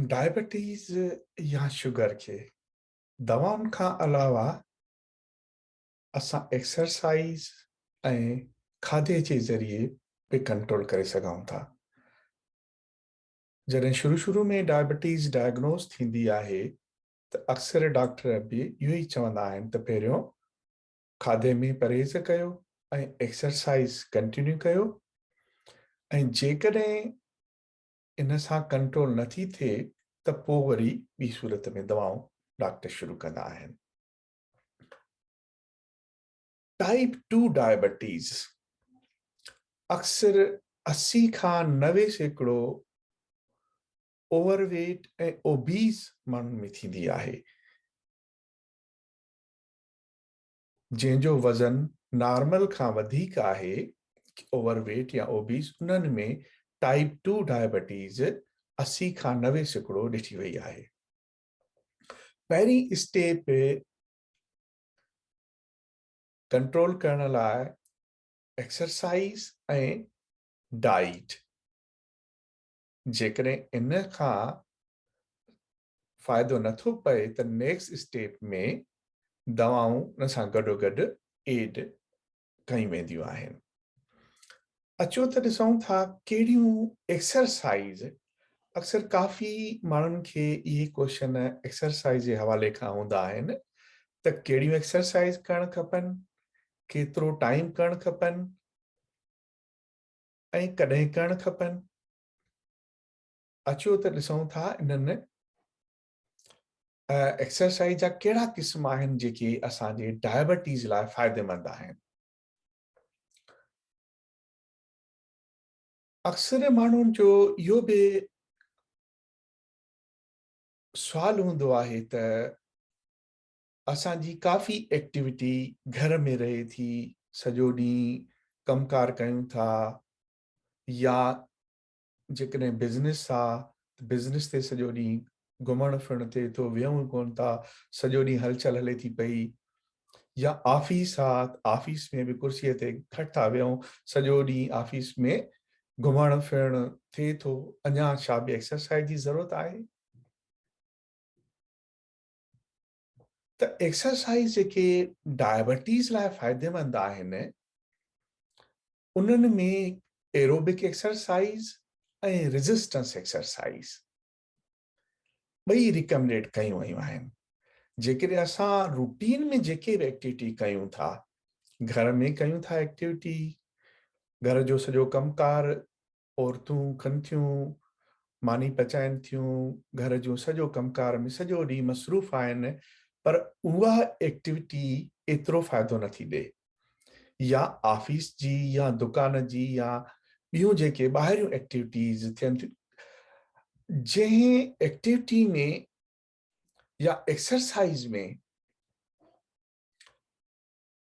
Diabetes يا sugar کي دوائن کان علاوه اسان ايڪسرسائيز ۽ کاڌي جي ذريعي به ڪنٽرول ڪري سگهون ٿا جڏهن شروع شروع ۾ ڊائبيٽيز ڊائگنوز ٿيندي آهي ته اڪثر ڊاڪٽر به اهو ئي چوندا آهن ته پهريون کاڌي ۾ پرهيز ڪيو ۽ ايڪسرسائيز ڪنٽينيو ڪيو ۽ جيڪڏهن ان سان ڪنٽرول نه ٿي ٿئي ته پوء وري ٻي صورت ۾ دوائون ڊاڪٽر شروع ڪندا آهن. ٽائيپ ٽو ڊائبيٽيز اڪثر اسي کان نوي سيڪڙو اوور ويٽ ۽ اوبيز ماڻهن ۾ ٿيندي آهي. جنهن جو وزن نارمل کان وڌيڪ آهي، اوور ويٽ يا اوبيس، انهن ۾ ٽائيپ ٽو ڊائبيٽيز اسي کان نوي سيڪڙو ڏٺي وئي آهي. پهرين اسٽيپ ڪنٽرول ڪرڻ لاء ايڪسرسائيز ۽ ڊائيٽ جيڪڏهن ان کان فائدو نه ٿو پئي ته نيڪسٽ اسٽيپ ۾ دوائون ان سان گڏوگڏ ايڊ ڪيون وينديون آهن. اچو ته ڏسون ٿا ڪهڙيون ايڪسرسائيز اڪثر ڪافي ماڻهن کي اهي ڪوشچن ايڪسرسائيز جي حوالي کان هوندا آهن ته ڪهڙيون ايڪسرسائيز ڪرڻ کپن، ڪيترو ٽائيم ڪرڻ کپن ۽ ڪڏهن ڪرڻ کپن. اچو ته ڏسون ٿا انهن ايڪسرسائز جا ڪهڙا قسم آهن جيڪي اسان جي ڊائبيٽيز لاء فائديمند آهن اڪثر ماڻهن جو اهو به سوال هوندو آهي ته اسان جي ڪافي ايڪٽيويٽي گهر ۾ رهي ٿي سڄو ڏينهن ڪم ڪار ڪيون ٿا يا جيڪڏهن بزنس آ ته بزنس تي سڄو ڏينهن گهمڻ ڦرڻ تي ٿو ويهون ئي ڪونه ٿا سڄو ڏينهن هلچل هلي ٿي پئي يا آفيس آ ته آفيس ۾ به ڪرسيء تي گهٽ ٿا ويهون سڄو ڏينهن آفيس ۾ گهمڻ ڦرڻ ٿئي ٿو اڃا ڇا به ايڪسرسائز جي ضرورت آهي ته ايڪسرسائز جيڪي ڊائبيٽيز لاء فائديمند آهن انهن ۾ ايروبڪ ايڪسرسائيز ۽ ريزسٽنس ايڪسرسائيز ٻئي ريڪمنڊ ڪيون ويون آهن. جيڪڏهن اسان روٽين ۾ جيڪي به ايڪٽيوٽي ڪيون ٿا، گهر ۾ ڪيون ٿا ايڪٽيوٽي، گهر جو سڄو ڪم ڪار عورتون ڪن ٿيون، ماني پچائين ٿيون، گهر جو سڄو ڪم ڪار ۾ سڄو ڏينهن مصروف آهن پر اها ايڪٽيوٽي ايترو فائدو نه ٿي ڏي يا آفيس جي يا دڪان جي يا ٻيون جيڪي ٻاهريون ايڪٽيوٽيز ٿين ٿيون جنهن ايڪٽيوٽي ۾ يا ايڪسرسائز ۾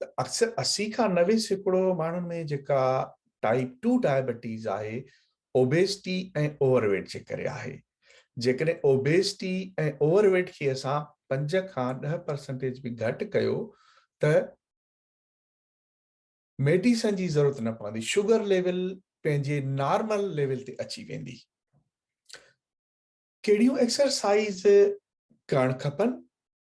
ته اڪثر اسي کان نوي سيڪڙو ماڻهن ۾ جيڪا ٽائيپ ٽو ڊائبيٽيز آهي اوبيسٽي ۽ اوور ويٽ جي ڪري آهي جيڪڏهن اوبيسٽي ۽ اوور ويٽ کي اسان پنج کان ڏهه پرسنٽيج به گهٽ ڪيو ته ميڊيسن جي ضرورت نه پوندي شوگر ليول پنهنجي نارمل ليول تي اچي ويندي ڪهڙيون ايڪسرسائز ڪرڻ کپن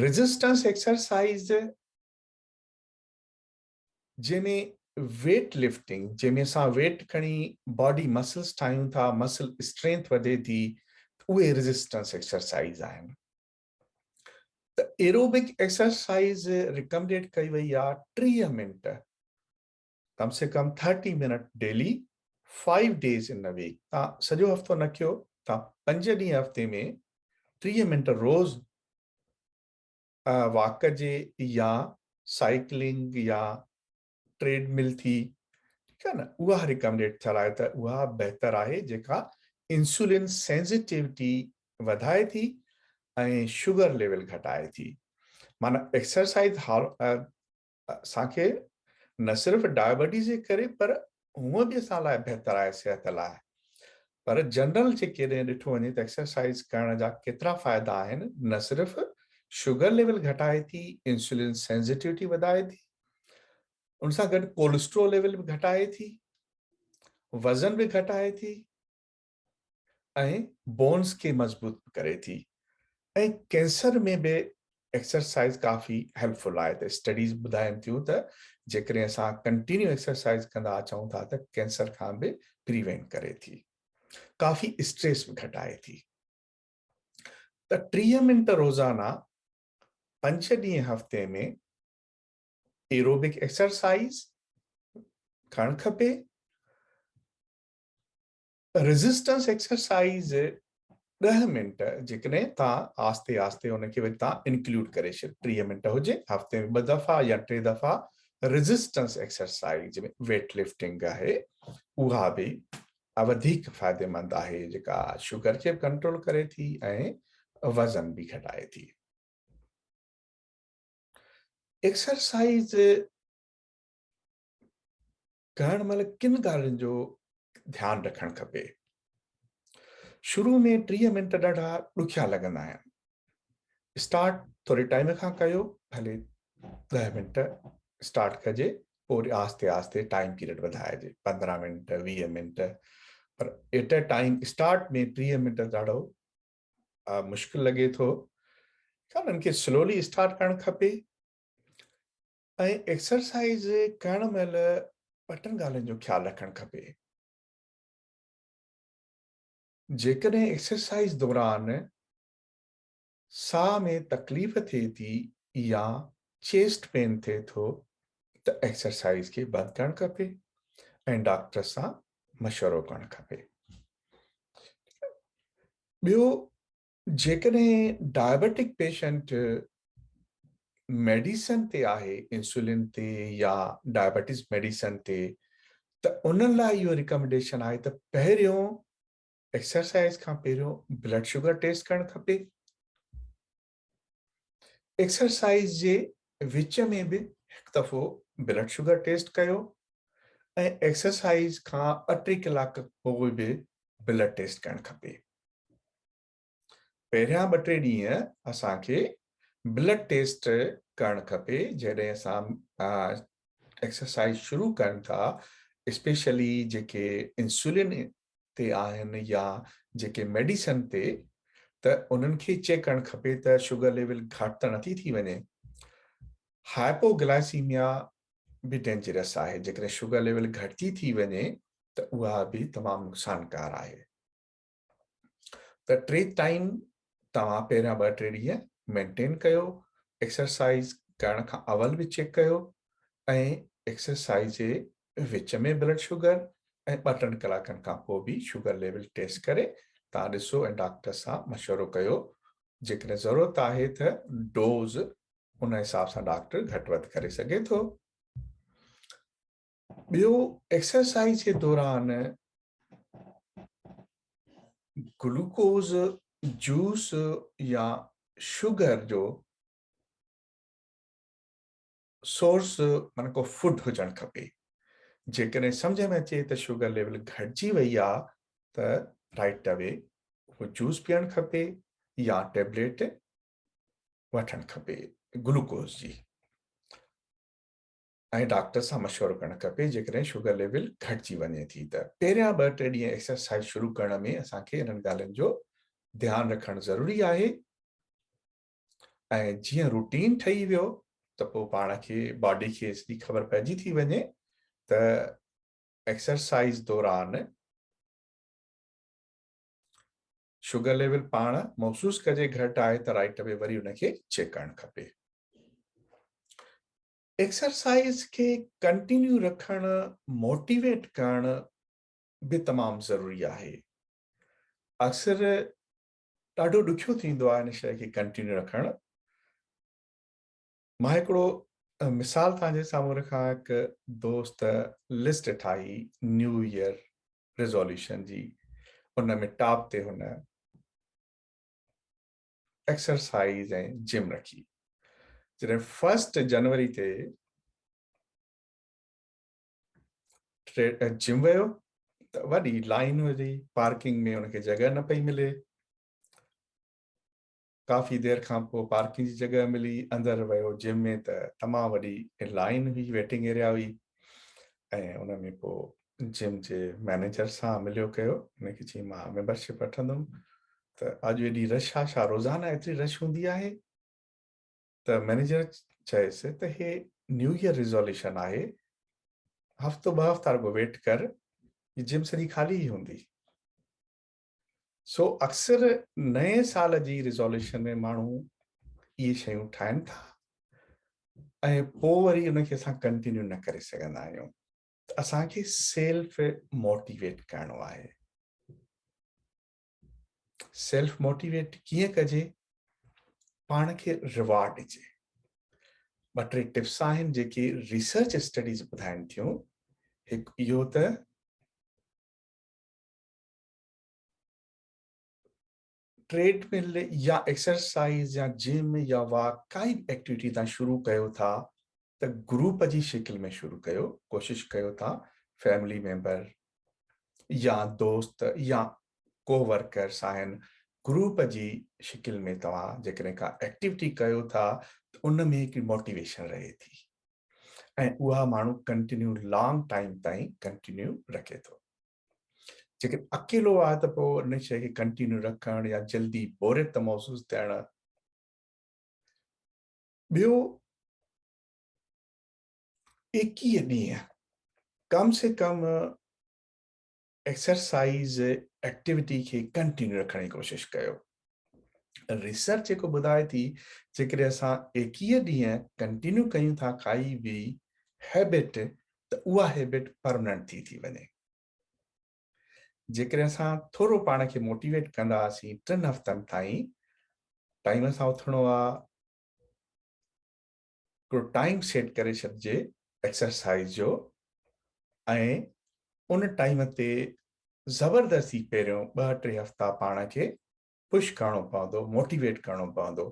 ريزسٽنس ايڪسرسائيز جنهن ۾ ويٽ لفٽنگ جنهن ۾ اسان ويٽ کڻي باڊي مسلس ٺاهيون ٿا مسل اسٽرينٿ وڌي ٿي اهي ريزسٽنس ايڪسرسائيز آهن ته ايروبڪ ايڪسرسائيز ريڪمنڊيڊ ڪئي وئي آهي ٽيهه منٽ ڪم سي ڪم thirty minute daily five days in a week تان سڄو هفتو نه ڪيو تان پنج ڏينهن هفتي ۾ ٽيهه منٽ روز واڪ ڪجي يا سائيڪلنگ يا ٽريڊ مل ٿي ٺيڪ آ نه اها ريڪمنڊيڊ ٿيل آهي ته اها بهتر آهي جيڪا انسولين سينسيٽيوٽي وڌائي ٿي ۽ شوگر ليول گهٽائي ٿي معنی ايڪسرسائز اسان کي نه صرف ڊائبيٽيز جي ڪري پر هونء به اسان لاء بهتر آهي صحت لاء پر جنرل جي ڪيڏانهن ڏٺو وڃي ته ايڪسرسائز ڪرڻ جا ڪيترا فائدا آهن نه صرف شوگر ليول گهٽائي ٿي انسولين سينسيٽيوٽي وڌائي ٿي ان سان گڏ ڪولسٽرول ليول به گهٽائي ٿي وزن به گهٽائي ٿي ۽ بونز کي مضبوط به ڪري ٿي ۽ ڪينسر ۾ به ايڪسرسائز ڪافي هيلپ فل آهي ته اسٽڊيز ٻڌائين ٿيون ته جيڪڏهن اسان ڪنٽينيو ايڪسرسائز ڪندا اچون ٿا ته ڪينسر کان به پريوينٽ ڪري ٿي ڪافي اسٽريس به گهٽائي ٿي ته ٽيهه منٽ روزانه پنج ڏينهن هفتي ۾ ايروبڪ ايڪسرسائز ڪرڻ کپي ريزسٽنس ايڪسرسائيز ڏهه منٽ جيڪڏهن تان آهستي آهستي ان کي وري تان انڪلوڊ ڪري ڇڏ ٽيهه منٽ هجي هفتي ۾ ٻه دفعا يا ٽي دفعا ريزسٽنس ايڪسرسائيز ۾ ويٽ لفٽنگ آهي اها به وڌيڪ فائديمند آهي جيڪا شگر کي ڪنٽرول ڪري ٿي ۽ وزن به گهٽائي ٿي ايڪسرسائيز ڪرڻ مهل ڪن ڳالهين جو ڌيان رکڻ کپي. شروع ۾ ٽيهه منٽ ڏاڍا ڏکيا لڳندا آهن. اسٽارٽ ٿوري ٽائيم کان ڪيو ڀلي ڏهه منٽ اسٽارٽ ڪجي پوء وري آهستي آهستي ٽائيم پيريڊ وڌائجي پندرهن منٽ ويهه منٽ پر ايٽ اي ٽائيم اسٽارٽ ۾ ٽيهه منٽ ڏاڍو مشڪل لڳي ٿو انهن کي سلولي اسٽارٽ ڪرڻ کپي ۽ ايڪسرسائيز ڪرڻ مهل ٻٽن ڳالهين جو خيال رکڻ کپي. جيڪڏهن ايڪسرسائيز دوران ساهه ۾ تڪليف ٿئي ٿي يا چيسٽ پين ٿئي ٿو ته ايڪسرسائيز کي بند ڪرڻ کپي ۽ ڊاڪٽر سان مشورو ڪرڻ کپي. ٻيو جيڪڏهن ڊائبيٽڪ پيشنٽ ميڊيسن تي آهي انسولين تي يا ڊائبيٽيز ميڊيسن تي ته انهن لاء اهو ريڪمنڊيشن آهي ته پهريون ايڪسرسائز کان پهريون بلڊ شوگر ٽيسٽ ڪرڻ کپي ايڪسرسائز جي وچ ۾ به هڪ دفعو بلڊ شوگر ٽيسٽ ڪيو ۽ ايڪسرسائز کان ٽي ڪلاڪ پوء به بلڊ ٽيسٽ ڪرڻ کپي پهريان ٻه ٽي ڏينهن اسان کي بلڊ ٽيسٽ ڪرڻ کپي جڏهن اسان ايڪسرسائز شروع ڪن ٿا اسپيشلي جيڪي انسولين تي آهن يا جيڪي ميڊيسن تي ته انهن کي چيڪ ڪرڻ کپي ته شوگر ليول گهٽ ته نٿي ٿي وڃي هائپوگلائسيميا به ڊينجرس آهي جيڪڏهن شوگر ليول گهٽجي ٿي وڃي ته اها به تمام نقصانڪار آهي ته ٽي ٽائيم توهان پهريان ٻه ٽي ڏينهن مينٽين ڪيو ايڪسرسائز ڪرڻ کان اول به چيڪ ڪيو ۽ ايڪسرسائز جي وچ ۾ بلڊ شوگر ۽ ٻه ٽن ڪلاڪن کان پوء به شوگر ليول ٽيسٽ ڪري تان ڏسو ۽ ڊاڪٽر سان مشورو ڪيو جيڪڏهن ضرورت آهي ته ڊوز ان حساب سان ڊاڪٽر گهٽ وڌ ڪري سگهي ٿو ٻيو ايڪسرسائز جي دوران گلوڪوز جوس يا شوگر جو سورس مانا ڪو فوڊ هجڻ کپي جيڪڏهن سمجھ ۾ اچي ته شوگر ليول گهٽجي وئي آ ته رائٽ اوي اهو جوس پيئڻ کپي يا ٽيبليٽ وٺڻ کپي گلوڪوز جي ۽ ڊاڪٽر سان مشورو ڪرڻ کپي جيڪڏهن شگر ليول گهٽجي وڃي ٿي ته پهريان ٻه ٽي ڏينهن ايڪسرسائيز شروع ڪرڻ ۾ اسان کي انهن ڳالهين جو ڌيان رکڻ ضروري آهي ۽ جيئن روٽين ٺهي ويو ته پوء پاڻ کي باڊي کي سڄي خبر پئجي ٿي وڃي ته ايڪسرسائيز دوران شگر ليول پاڻ محسوس ڪجي گهٽ آهي ته رائٽ اوي وري ان کي چيڪ ڪرڻ کپي ايڪسرسائيز کي ڪنٽينيو رکڻ موٽيويٽ ڪرڻ به تمام ضروري آهي اڪثر ڏاڍو ڏکيو ٿيندو آهي ان شيء کي ڪنٽينيو رکڻ مان هڪڙو مثال تنهنجي سامهون رکان هڪ دوست لسٽ ٺاهي نيو ايئر ريزولوشن جي ان ۾ ٽاپ تي هن ايڪسرسائيز ۽ جم رکي جڏهن فرسٽ جنوري تي جم ويو ته وڏي لائن هئي پارڪنگ ۾ ان کي جڳهه نه پئي ملي ڪافي دير کان پوء پارڪنگ جي جڳهه ملي اندر ويو جم ۾ ته تمام وڏي لائن هئي ويٽنگ ايريا هئي ۽ ان ۾ پوء جم جي مئنيجر سان مليو ڪيو ان کي چي مان ميمبرشپ وٺندم ته اڄ ايڏي رش آ شا روزانه ايتري رش هوندي آهي ته مئنيجر چيس ته هي نيو ايئر ريزوليوشن آهي هفتو ٻه هفتا رڳو ويٽ ڪر جم سڄي خالي ئي هوندي سو اڪثر نئين سال جي ريزوليوشن ۾ ماڻهو اهي شيون ٺاهن ٿا ۽ پوء وري ان کي اسان ڪنٽينيو نه ڪري سگهندا آهيون اسان کي سيلف موٽيويٽ ڪرڻو آهي سيلف موٽيويٽ ڪيئن ڪجي پاڻ کي ريوارڊ ڏجي ٻه ٽي ٽپس آهن جيڪي ريسرچ اسٽڊيز ٻڌائن ٿيون هڪ اهو ته ٽريڊ مل يا ايڪسرسائيز يا جم يا واڪ ڪائي به ايڪٽيوٽي تان شروع ڪيو ٿا ته گروپ جي شڪل ۾ شروع ڪيو ڪوشش ڪيو ته فيملي ميمبر يا دوست يا ڪو ورڪرس آهن گروپ جي شڪل ۾ توهان جيڪڏهن ڪا ايڪٽيوٽي ڪيو ٿا ته ان ۾ هڪ موٽيويشن رهي ٿي ۽ اها ماڻهو ڪنٽينيو لانگ ٽائيم تائين ڪنٽينيو رکي ٿو جيڪڏهن اڪيلو آهي ته پوء ان شيء کي ڪنٽينيو رکڻ يا جلدي بوريت محسوس ٿيڻ. ٻيو ايڪيهه ڏينهن ڪم سي ڪم ايڪسرسائيز ايڪٽيوٽي کي ڪنٽينيو رکڻ جي ڪوشش ڪيو. ريسرچ جيڪو ٻڌائي ٿي جيڪڏهن اسان ايڪيهه ڏينهن ڪنٽينيو ڪيون ٿا ڪائي به هيبٽ ته اها هيبٽ پرمننٽ ٿي ٿي وڃي جيڪڏهن اسان ٿورو پاڻ کي موٽيويٽ ڪنداسين ٽن هفتن تائين ٽائيم سان اٿڻو آ هڪڙو ٽائيم سيٽ ڪري ڇڏجي ايڪسرسائيز جو ۽ ان ٽائيم تي زبردستي پهريون ٻه ٽي هفتا پاڻ کي پش ڪرڻو پوندو موٽيويٽ ڪرڻو پوندو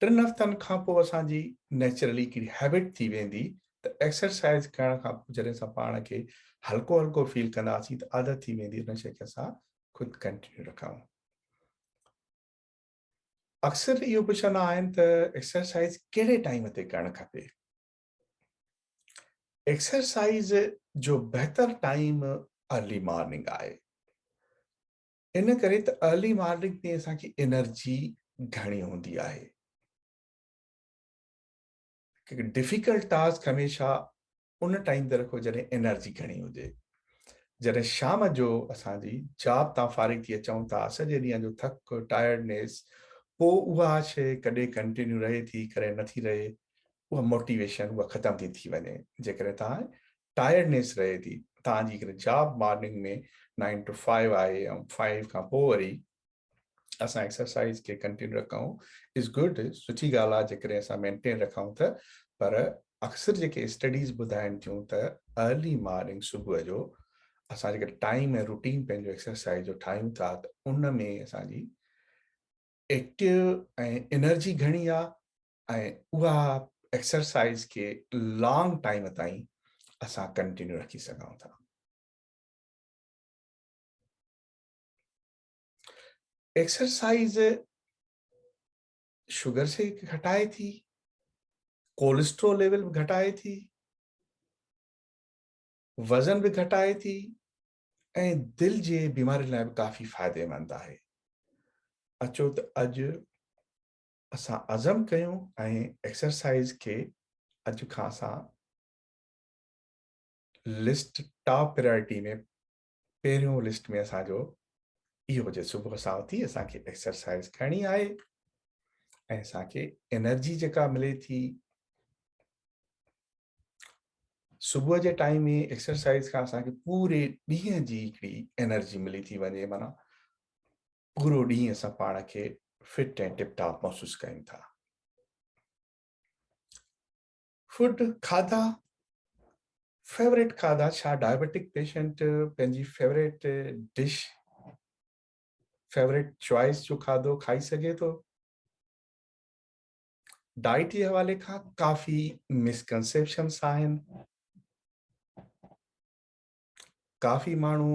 ٽن هفتن کان پوء اسان جي نيچرلي هڪڙي هيبٽ ٿي ويندي ته ايڪسرسائيز ڪرڻ کان پوء جڏهن اسان پاڻ کي هلڪو هلڪو فيل ڪنداسين ته عادت ٿي ويندي ان شي کي اسان خود ڪنٽينيو رکون اڪثر اهو پڇندا آهن ته ايڪسرسائز ڪهڙي ٽائيم تي ڪرڻ کپي؟ ايڪسرسائز جو بهتر ٽائيم ارلي مارننگ آهي. ان ڪري ته ارلي مارننگ تي اسان کي انرجي گهڻي هوندي آهي. ڊفيڪلٽ ٽاسڪ هميشه ان ٽائيم تي رکو جڏهن انرجي گهڻي هجي. جڏهن شام جو اسان جي جاب تان فارغ ٿي اچون ٿا سڄي ڏينهن جو ٿڪ، ٽائرڊنيس، پوء اها شيء ڪڏهن ڪنٽينيو رهي ٿي ڪڏهن نٿي رهي اها موٽيويشن اها ختم ٿي ٿي وڃي جيڪڏهن توهان ٽائرڊنيس رهي ٿي توهان جي job morning ۾ nine to five آهي ۽ فائيو کان پوء وري اسان ايڪسرسائز کي ڪنٽينيو رکون از گڊ سٺي ڳالهه آهي جيڪڏهن اسان مينٽين رکون ته پر اڪثر جيڪي اسٽڊيز ٻڌائن ٿيون ته ارلي مارننگ صبح جو اسان جيڪڏهن ٽائيم ۽ روٽين پنهنجو ايڪسرسائز جو ٺاهيون ٿا ته ان ۾ اسانجي ايڪٽيو ۽ انرجي گهڻي آهي ۽ اها ايڪسرسائز کي لانگ ٽائيم تائين اسان ڪنٽينيو رکي سگهون ٿا ايڪسرسائز شوگر کي گهٽائي ٿي ڪولسٽرول ليول به گهٽائي ٿي وزن به گهٽائي ٿي ۽ دل جي بيمارين لاء به ڪافي فائديمند آهي اچو ته اڄ اسان عزم ڪيون ۽ ايڪسرسائز کي اڄ کان اسان لسٽ ٽاپ پرائرٽي ۾ پهريون لسٽ ۾ اسان جو اهو هجي صبح سان اٿي اسان کي ايڪسرسائز ڪرڻي آهي ۽ اسان کي انرجي جيڪا ملي ٿي صبح جي ٽائيم ۾ ايڪسرسائز کان اسان کي پوري ڏينهن جي هڪڙي انرجي ملي ٿي وڃي مانا پورو ڏينهن اسان پاڻ کي فٽ ۽ ٽپ ٽاپ محسوس ڪيون ٿا فوڊ کاڌا فيوريٽ کاڌا ڇا ڊائبيٽڪ پيشنٽ پنهنجي فيوريٽ ڊش فيوريٽ چوائس جو کاڌو کائي سگهي ٿو ڊائٽ جي حوالي کان ڪافي مسڪنسيپشنس آهن ڪافي ماڻهو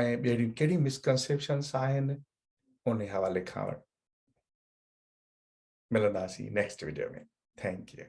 ۽ ٻيڙيون ڪهڙي مسڪنسيپشنس آهن ان حوالي کان ملنداسين نيڪسٽ ويڊيو ۾ ٿينڪ يو